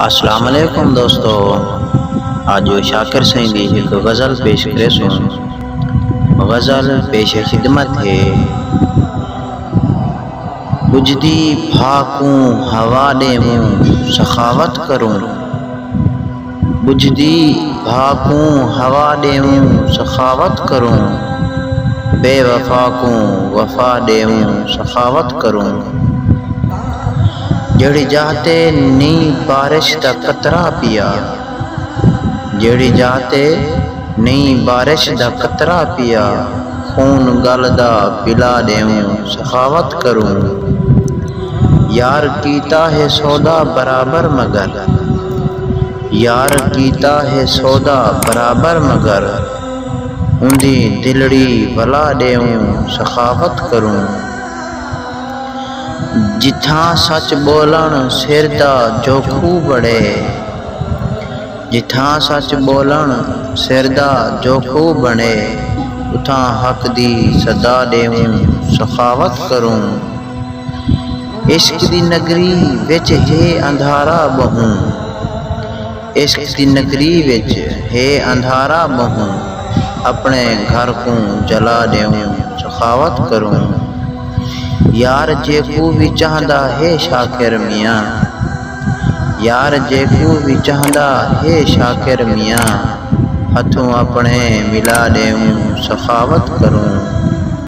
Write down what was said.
السلام علیکم دوستو اج شاکر سئیں دی ہک غزل پیش کریسوں غزل پیش خدمت ہے بجھدی بھا کوں ہوا ڈیووں سخاوت کروں ٻجھدی بھا کوں ہوا ݙیووں سخاوت کروں بے وفا کوں وفا ݙیووں سخاوت کروں جیڑھی جاہ تے نی بارش دا قطرہ پیا جیڑھی جاہ تے نی بارش دا قطرہ پیا خون ڳل دا پلا ݙیووں سخاوت کروں یار کیتا ہے سودا برابر مگر یار کیتا ہے سودا برابر مگر اوندی دلڑی ولا ݙیوں سخاوت کروں جتھاں سچ ٻولݨ سر دا جوکھو بݨے جتھاں سچ ٻولݨ سر دا جوکھو بݨے اتھاں حق دی صدا ݙیوں سخاوت کروں۔ عشق دی نگری وچ ہے اندھارا ٻہوں عشق دی نگری وچ ہے اندھارا ٻہوں اپݨے گھر کوں جلا ݙیوں سخاوت کروں یار جیکوں وی چاہندا ہے شاکر میاں یار جیکوں وی چاہندا ہے شاکر میاں ہتھوں اپݨے ملا ݙیوں سخاوت کروں۔